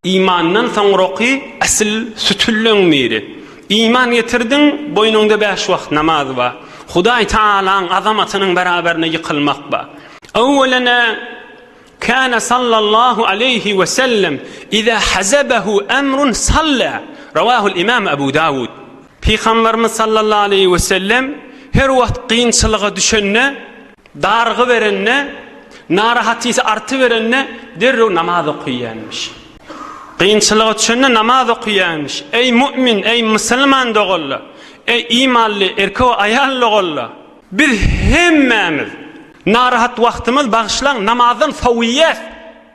Imandan soňraky asyl sütünleň biri. Iman getirdiň, boýnuňda bäş wagt namaz bar. Hudaý Tagalaň azamatynyň beraberine ýykylmak bar. Öwwelene kana sallallahu aleýhi we sellem iza hazabahu amrun salla. Rawahul imam Abu Dawud. Pygamberimiz sallallahu aleýhi we sellem her wagt kynçylyga düşende, dargy berende, narahatysy artyberende derrew namaz okyýanmiş. Kynçylyga düşende namaz okyýanmiş. Eý mu'min, eý musulman doganlar, eý imanly erkek we aýal doganlar, biz hemmämiz narahat wagtymyz bagyşlaň namazdan sowýas.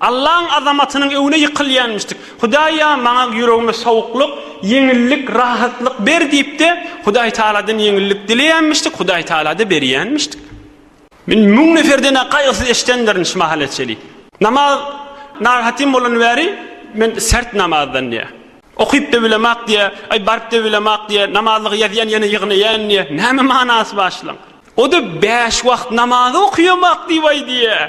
Allaň azamatynyň öňüne ýykylýanmyşdyk. Hudaý-a, maňa ýüregime sowuklyk, ýeňillik, rahatlyk ber diýip-de, Hudaý Tagaladan ýeňillik dileýänmişdik, Hudaý Tagala-da berýänmişdik. Men müň neferden-ä gaýgysyz eşidendirin şu mahala çenli. Namaz narahatym bolan bäri men sert namazdan diýýär. Okyp-da bilemak diýýär, aý, baryp-da bilemak diýýär, namazlygy ýazýan ýene ýygnaýan diýýär. Näme manasy bar şulaň? O-da bäş wagt namazy okýamak diýip-aý diýýär.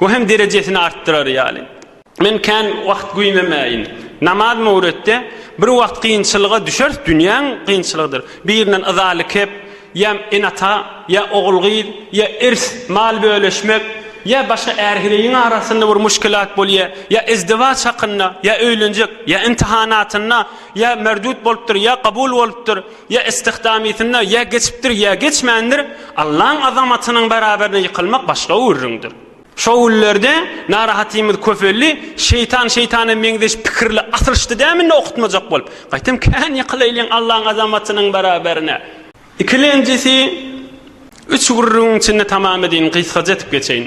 Bu hem derejesini artdyrar ýaly. Men kän wagt güýmemäýin. Namaz möwretde bir wagt kynçylyga düşeris, dünýäň kynçylygydyr. Birinden yzaly kep, ýa ene-ata, ýa ogul-gyz, ýa irs, mal bölüşmek, ýa başga är-hireýiň arasynda bir muşkilat bolýar, ýa izdiwaç hakynda, ýa öýlenjek, ýa imtihanatynda, ýa merdut bolupdyr, ýa kabul bolupdyr. Ýa istihdamysynda, ýa geçipdir, ýa geçmändir, Allaň azamatynyň baraberine ýykylmak başga gürrüňdir. Şo günlerde narahatymyz köpeldi, şeýtan şeýtana meňzeş pikirli asylşdy dämi indi okutmajak bolup. Gaýtam kän ýykylaýlyň Allaň azamatynyň baraberine. Ikilenjisi üç gürrüňiň içinde tamamy deýin gysgaja etip geçeýin.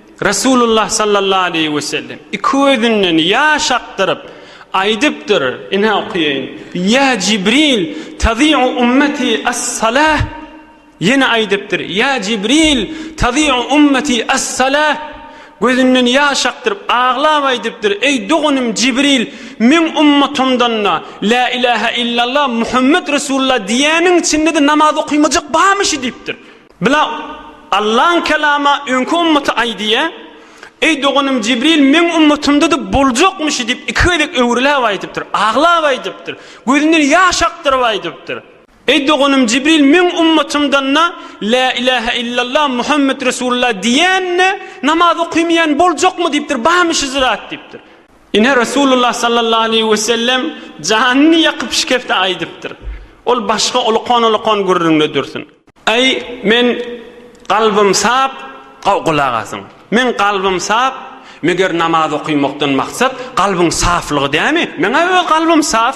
Resulullah sallallahu aleýhi wesellem iki gözünden ýaş akdyryp, aýdypdyr, ine okaýaýyn, Ýa Jibril, tazi'u ummeti as-salah, ýene aýdypdyr, Ýa Jibril, tazi'u ummeti as-salah, gözünden ýaş akdyryp, aglap aýdypdyr, Eý doganym Jibril, meň ummatymdan-da La ilahe illallah, Muhammet Resulullah diýýäniň içinde-de namaz okaýmajak barmyşy? diýipdir. Bila, Allaň Kelama öňki ümmaty aýdýa, Eý, doganym Jibril meň ümmatymda-da boljakmyşy diýip iki gezek öwrüläp aýdypdyr, aglap aýdypdyr, gözünden ýaş akdyryp aýdypdyr. Eý, doganym Jibril meň ümmatymdan-da Lä ilähe illallah Muhammet Resulullah diýen-de namaz okymaýan boljakmy diýipdir, barmy şi zat diýipdir. Ine, Resulullah sallallahu aleýhi we sellem janyny ýakyp şikefte aýdypdyr. Ol başga ulukan-ulukan gürrüňde dursun. Aý, men kalbym sap, gulak asyň. Men kalbym sap, meger namaz okymakdan maksat kalbyň saflygy dämi? Meň-ä öz kalbym saf.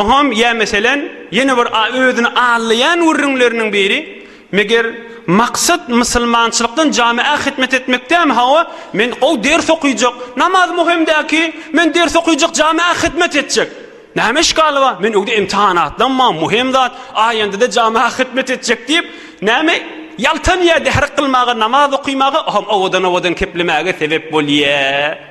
Oňam, ýa meselem, ýene bir özüni allaýan gürrüňleriniň biri, Meger, maksat musulmançylykdan jamy-a hytmet etmekdämi? Hawa, men gowy ders okyjak, namaz möhüm däl ki, men ders okyjak, jamy-a hytmet etjek. Näme işgaly bar? Men öwde imtihana atlanman, möhüm zat, aýanda-da jamy-a hytmet etjek diýip, näme, ýaltanýar, dehrik kylmaga, namaz okymaga, oňam owadan-owadan keplemäge sebäp bolýar.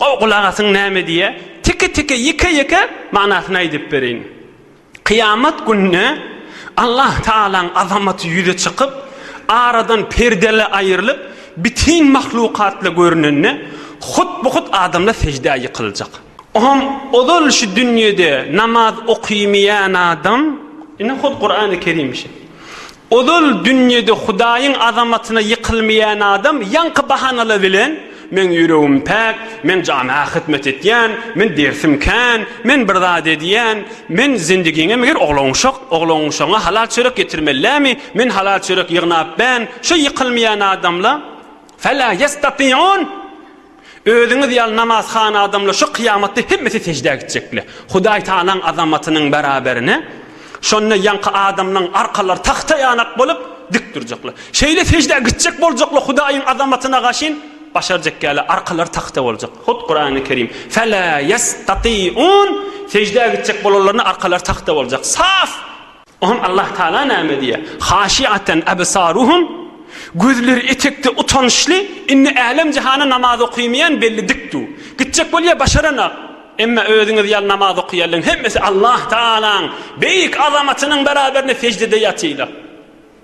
Gowy gulak asyň näme diýýär, teke-teke, ýeke-ýeke manysyny aýdyp bereýin. Kyýamat gününe Allah Tagalaň azamaty ýüze çykyp, aradan perdele aýrylyp, bitin mahlukatla görünende, hut-bu-hut adamlar seždä ýykyljak. O hem ozal şu dünýede namaz okymaýan adam, ine hut Kurany Kerim şi. Ozal dünýede Hudaýyň azamatyna ýykylmaýan adam ýaňky bahanalar bilen, Meň ýüregim päk, men jamaga hyzmat etýän, men dersim kän, men bir zat edýän, men zindigiňe meger oglanuşak, oglanuşagyňa halal çörek getirmellämi, men halal çörek ýygnap bän, şu ýykylmaýan adamla, Fe-la ýestatiun! Özüňiz ýaly namazhana adamlar şu kyýamatda hemmesi seždä gitjekler. Hudaý Tagalaň azamatynyň bäraberine şonda ýaňky adamlaň arkalary tagta ýanak bolup, dik durjaklar. Şeýle seždä gitjek boljaklar Hudaýyň azamatyna gaşyn başarjak ýaly arkalary tagta boljak. Hut Kurany Kerim, Fela ýestatýun, seždä gitjek bolanlaryna arkalary tagta boljak. Saf! Oňa Allah Tagala näme diýýär? Haşiaten absaruhum, Gözleri etekde utançly, indi älem-jahana namaz okymaýan belli dik du. Gitjek bolýa başaranak. Emma özüňiz ýaly namaz okýanlaryň hemmesi Allah Tagalaň beýik azamatynyň beraberinde seždede ýatylar.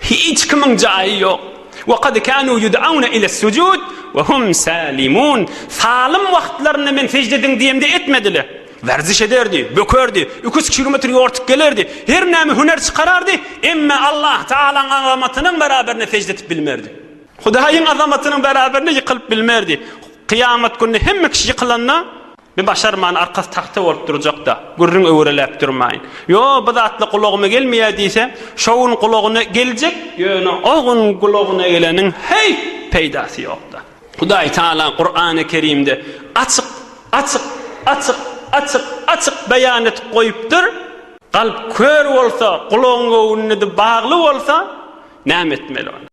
Hiç kimiň jaýy ýok. Wa kad kanu yud'auna ila sujud wa hum salimun. Salym wagtlarynda men sejde ediň diýemde etmediler. Werziş ederdi, bökerdi, iki üç kilometr ýortup gelerdi, her näme hüner çykarardy, emma Allah Tagalaň azamatynyň beraberine sejde etip bilmerdi. Hudaýyň azamatynyň beraberine ýykylyp bilmerdi. Kyýamat gününe hemme kişi ýykylanda, Bi başarman arkasy tagta bolup durjakda, gürrüň öwreläp durmaýyn. Ýo, bu zatlar gulagyma gelmeýär diýse, şo gün gulagyna geljek, ýöne o gün gulagyna geleniň heýt peýdasy ýokda. Hudaý Taala Kurany Kerimde açyk, açyk, açyk, açyk, açyk beýan edip goýupdyr, Kalp kör bolsa, gulagyň göwnüne-de bagly bolsa, näme etmeli onda?